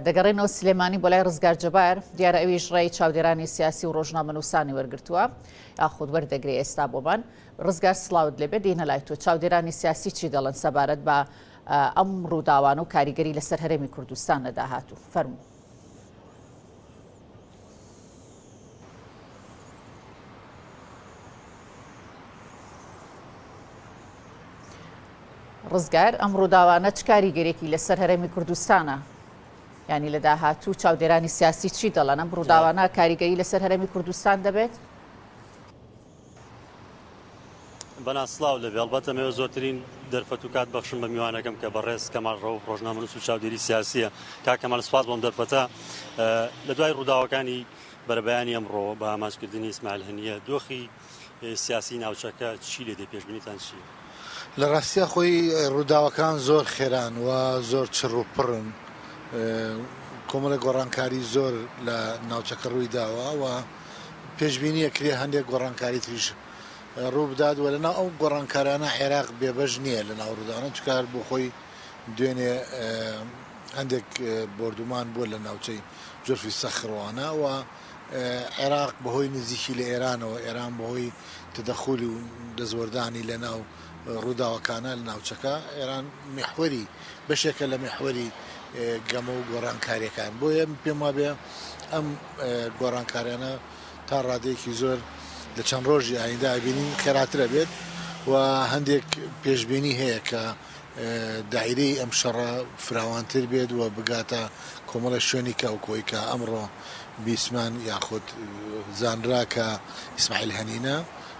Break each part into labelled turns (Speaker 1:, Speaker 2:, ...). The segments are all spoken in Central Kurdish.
Speaker 1: دەگەڕێنەوە سلێمانی بۆ لای ڕزگار جەبار، دیارە ئەویش ڕێی چاودێرانی سیاسی و ڕۆژنامەنووسانی وەرگرتووە یاخود وەردەگرێ ئێستا بۆمان. ڕزگار سڵاوت لێبێ، دێینە لای تۆ، چاودێرانی سیاسی چی دەڵێن سەبارەت بە ئەم ڕووداوانە و کاریگەری لەسەر هەرێمی کوردستان لە داهاتوو؟ فەرموو. ڕزگار، ئەم ڕووداوانە چ کاریگەریەکی لەسەر هەرێمی کوردستانە؟ ینی لە داهاتوو چاودێرانی سیاسی چی دەڵەنە بڕووداوانە کاریگەری لەسەر هەرێمی کوردستان دەبێت؟
Speaker 2: بەناز سڵاو لەبێ ئەڵبەتە مەوێ زۆرترین دەرفەت و کات بەخشم بە میوانەکەم کە بەڕێز کەمال ڕەوف ڕۆژنامەنووس و چاودێری سیاسیە کا کەمال سپاس بۆم دەرفەتە لە دوای ڕووداوەکانی بەرەبەیانی ئەمڕۆ بە ئامانجکردنی ئیسماعیل هەنیە دۆخی سیاسی ناوچەکە چی لێ دێ پێشبینیتان چی؟ لە ڕاستیا
Speaker 3: خۆی ڕووداوەکان زۆر خێران و زۆر چڕ و پڕن کۆمەڵی گۆڕانکاری زۆر لە ناوچەکە ڕووی داوە و پێشبینی ئەکرێ هەندێک گۆڕانکاری تریش ڕووبدات و لەناو ئەو گۆڕانکارانە عێراق بێبەش نییە لەناو ڕووداوانە چونکە هەر بۆ خۆی دوێنێ هەندێک بۆردومان بووە لە ناوچەی جورفی سەخروانە و عێراق بەهۆی نزیکی لە ئێرانەوە ئێران بەهۆی تەدەخول و دەستوەردانی لەناو ڕووداوەکانە لە ناوچەکە، ئێران میحوەری، بەشێکە لە میحوەری گەمە و گۆڕانکارییەکان، بۆیە من پێم وابێ ئەم گۆڕانکاریانە تا ڕادەیەکی زۆر لە چەند ڕۆژی ئایندە ئەبینین خێراتر ئەبێت و هەندێک پێشبینی هەیە کە دایرەی ئەم شەڕە فراوانتر بێت و بگاتە کۆمەڵێ شوێنی کە وەکوەی کە ئەمڕۆ بیستمان یاخود زانرا کە ئیسماعیل هەنینە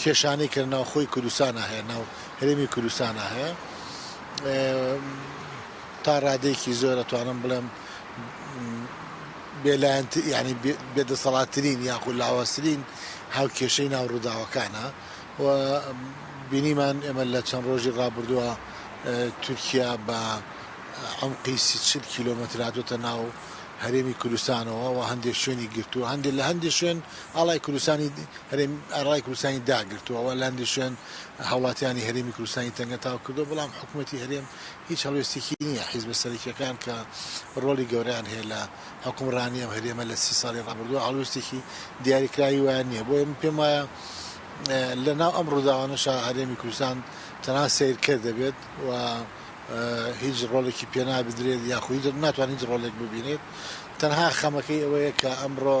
Speaker 3: کێشانەی کە ناوخۆی کوردستانا هەیە ناو هەرێمی کوردستانا هەیە تا ڕادەیەکی زۆر ئەتوانم بڵێم بێلایەن ینی بێدەسەڵاتترین یاخود لاوازترین هاو کێشەی ناو ڕووداوەکانە و بینیمان ئێمە لە چەند ڕۆژی ڕابردووە تورکیا بە ئەمقی سیچل کیلومەتراتۆتە ناو هەرێمی کوردستانەوە و هەندێک شوێنی گرتووە هەندێک لە هەندێک شوێن ئاڵای کوردستانی هەرێمی ئاڕای کوردستانی داگرتووە و لاندیشیان هاوڵاتیانی هەرێمی کوردستانی تەنگەتاو کردووە، بەڵام حکومەتی هەرێم هیچ هەڵوێستێکی نییە، حیزبە سەرەکییەکان کە ڕۆڵی گەورەیان هەیە لە حوکمڕانی ئەم هەرێمە لە سی ساڵی ڕابردووە هەڵوێستێکی دیاریکراوی وایان نییە، بۆیە من پێم وایە لە ناو ئەم ڕووداوانەشا هەرێمی کوردستان تەنها سەیرکەر دەبێت و هیچ ڕۆڵێکی پێ نابدرێت یاخو هیچ ناتوانێت هیچ ڕۆڵێک ببینێت، تەنها خەمەکەی ئەوەیە کە ئەمڕۆ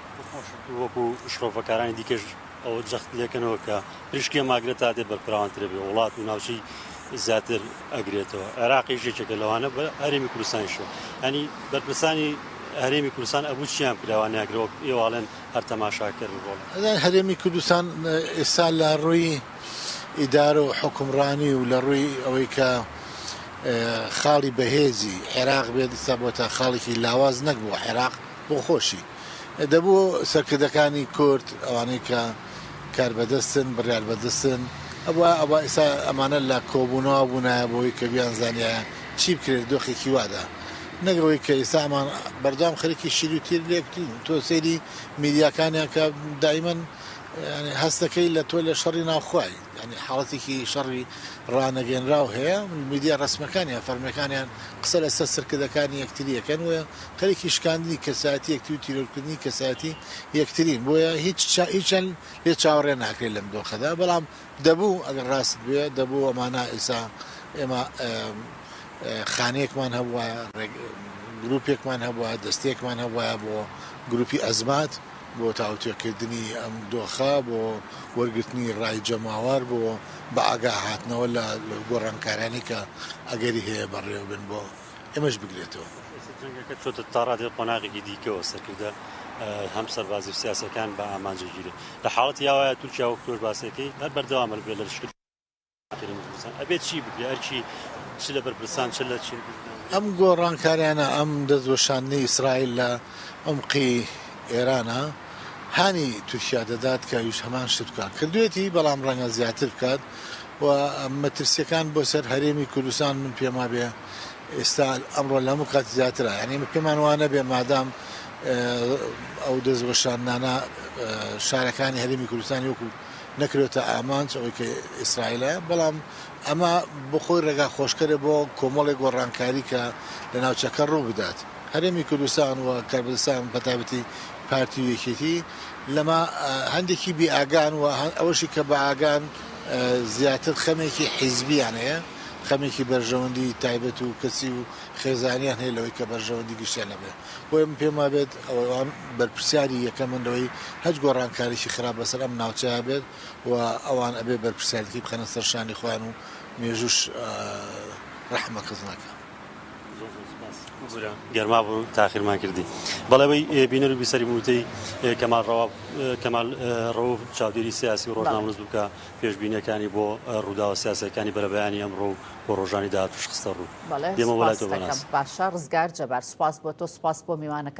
Speaker 3: خۆشت وەکو
Speaker 2: شرۆڤەکارانی دیکەش ئەوە جەخت لێکەنەوە کە پریشکیە ماگرێت تا دێ بەرپراوانترە بێ وڵات و ناوچەی زیاتر ئەگرێتەوە عێراقی ژێکێکە لەوانە بە هەرێمی کوردستانیشەوە هەنی بەرپرسانی هەرێمی کوردستان ئەبوو چیان پیراوان ناگرەوەک ئێواڵێن هەر تەماشاکەر ڕۆڵ هەرێمی کوردستان
Speaker 3: ئێستا لە ڕووی ئیدارە و حکومڕانی و لە ڕووی ئەوەی کە خاڵی بەهێزی عێراق بێت ئستا بۆ تا خاڵێکی لاواز نەک بۆ عێراق بۆخۆشی دەبوو سەرکردەکانی کورد ئەوانەی کە کاربەدەستن بڕیاربەدستن ئەبوایە ئەبا ئیستا ئەمانە لە کۆبونەوا بونایە بۆی کە بیان زانیایە چی بکرێت دۆخێکی وادا نەک ئەوەی کە ئیستا ئەمان بەردەوام خەریکی شیر و تیر لێک تۆ سەیری میدیاکانیان کە دایمەن هەستەکەی لە تۆ لە شەڕی ناوخوای یانی حاڵەتێکی شەڕی ڕانەگەنراو هەیە، میدیا ڕەسمیەکانیان فەرمیەکانیان قسە لە سەر سرکردەکانی یەکتری ئەکەن و خەریکی شکاندنی کەسایەتی یەکتری و تیرۆرکردنی کەسایەتی یەکترین بۆیە هیچیان لێ چاوەڕێ ناکرێت لەم دۆخەدا بەڵام دەبوو ئەگەر ڕاستت بوێ دەبوو ئەمانە ئیسا ئێمە خانەیەکمان هەبوایە گروپێکمان هەبوایە دەستەیەکمان هەبوایە بۆ گروپی ئەزمات بۆ تاوتوێکردنی ئەم دۆخە، بۆ وەرگرتنی ڕای جەماوەر، بۆ بەئاگا هاتنەوە لە گۆڕانکارانەی کە ئەگەری هەیە بەڕێوە بن، بۆ ئێمەش بگرێتەوە. ئێستا جەنگەکە چۆتە
Speaker 2: تاڕادەی قۆناغێکی دیکەوە، سەرکردە هەم سەربازی و سیاسیەکان بە ئامانج ئەگیرێت. لە حاڵەتی ئاوایا تورکیا وەک تۆش باسئەکەی هەر بەردەوامە لە لەشکر. ئەم گۆڕانکاریانە،
Speaker 3: ئەم دەستوەشاندنەی ئیسرائیل لە عومقی ئێرانە، هانی تورکیا دەدات کە ئەویش هەمان شت بکات کردوویەتی، بەڵام ڕەنگە زیاتر بکات و مەترسییەکان بۆ سەر هەرێمی کوردستان من پێم وابێ ئێستا ئەمڕۆ لە هەموو کات زیاترە، یانی ئێمە پێمان وا نەبێ مادام ئەو دەستوەشاندنانە شارەکانی هەرێمی کوردستانی وەکوو نەکرێتە ئامانج ئەوەی کە ئیسرائیلە، بەڵام ئەمە بۆ خۆی ڕێگا خۆشکەرە بۆ کۆمەڵێک گۆڕانکاری کە لە ناوچەکە ڕوو بدات. هەرێمی کوردستان و کەربدستان بە تایبەتی پارتی و یەکێتی لەمە هەندێکی بێ ئاگان و ئەوەشی کە بە ئاگان زیاتر خەمێکی حیزبییان هەیە، خەمێکی بەرژەوەندی تایبەت و کەسی و خێزانیان هەیە لەوەی کە بەرژەوەندی گشتیان هەبێ. بۆیە من پێم وابێت ئەوان بەرپرسیاری یەکەمن لەوەی هەچ گۆڕانکارێکی خراپ بەسەر ئەم ناوچەیا بێت و ئەوان ئەبێ بەرپرسیارەتی بخەنە سەر شانی خۆیان و مێژووش رەحمە کەس ناکا. زۆر زۆر سوپاس گورە
Speaker 2: گەرما بوو تاخیرمان کردی بەڵێ وەی بینەر و بیسەری بووتەی کەمال ڕەوا کەمال ڕەوف چاودێری سیاسی و ڕۆژنامەنووس بوو کە پێشبینیەکانی بۆ ڕووداوە سیاسیەکانی بەرەبەیانی ئەمڕۆ و بۆ ڕۆژانی داهاتوش خستە
Speaker 1: ڕوو.
Speaker 2: بەڵێ
Speaker 1: سوپاستەکەم باشە ڕزگار جەبار.
Speaker 2: سوپاس
Speaker 1: بۆ تۆ سوپاس
Speaker 2: بۆ
Speaker 1: میوانەکەت.